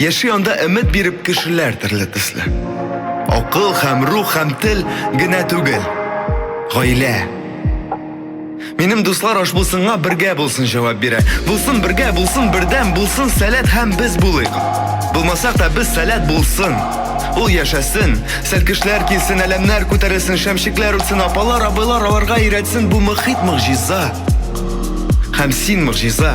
Яши анда өмет биреп кешеләр төрле төсле. Акыл һәм рух һәм тел генә түгел. Гаилә. Минем дуслар аш булсынга бергә булсын җавап бирә. Булсын бергә, булсын бердәм, булсын сәләт һәм без булыйк. Булмасак та без сәләт булсын. Ул яшәсен, сәлкешләр килсен, әләмнәр күтәрелсен, шәмчекләр үтсен, апалар, абыйлар аларга өйрәтсен бу мөхит могҗиза. Һәм син могҗиза.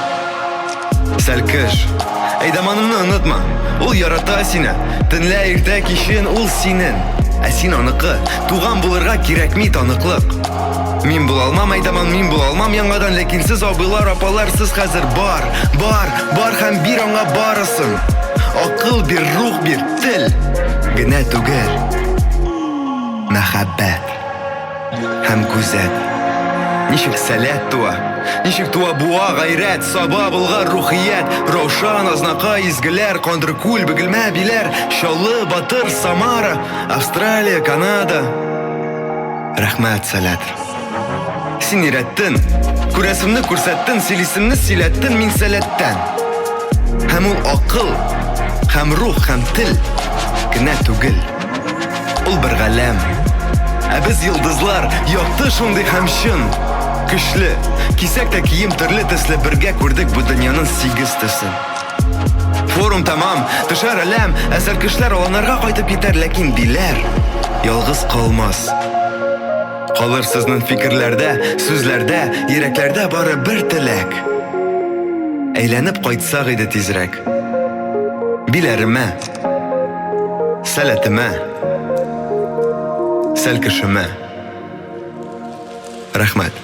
Сәлкеш. Әйдаманымны онытма. Ул ярата сине. Төнлә иртә кичен ул синен. Ә син аныкы. Туган булырга кирәкми таныклык. Мин була алмам әйдаман, мин була алмам яңадан, ләкин сез абыйлар, апалар, сез хәзер бар, бар, бар һәм бир аңа барысын. Акыл бир, рух бир, тел генә түгел. Мәхәббәт. Һәм күзәт. Ничек сәләт туа, ничек туа буа гайрәт, саба булгар рухият, Раушан, Азнакай, Изгеләр, Кандыркүл, Бөгелмә, Биләр, Чаллы, Батыр, Самара, Австралия, Канада. Рәхмәт, сәләт. Син өйрәттен, күрәсемне күрсәттен, сөйлисемне сөйләттен, мин сәләттән. Һәм ул акыл, һәм рух, һәм тел генә түгел. Ул бер галәм. Ә без йолдызлар, якты шундый һәм чын. Көчле. Кисәк тә кием төрле төсле, бергә күрдек бу дөньяның сигез төсен. Форум тәмам, төшәр әләм, ә сәркешләр аланарга кайтып китәр, ләкин биләр ялгыз калмас. Калыр сезнең фикерләрдә, сүзләрдә, йөрәкләрдә бары бер теләк. Әйләнеп кайтсак иде тизрәк. Биләремә. Сәләтемә, сәл кешемә. Рәхмәт.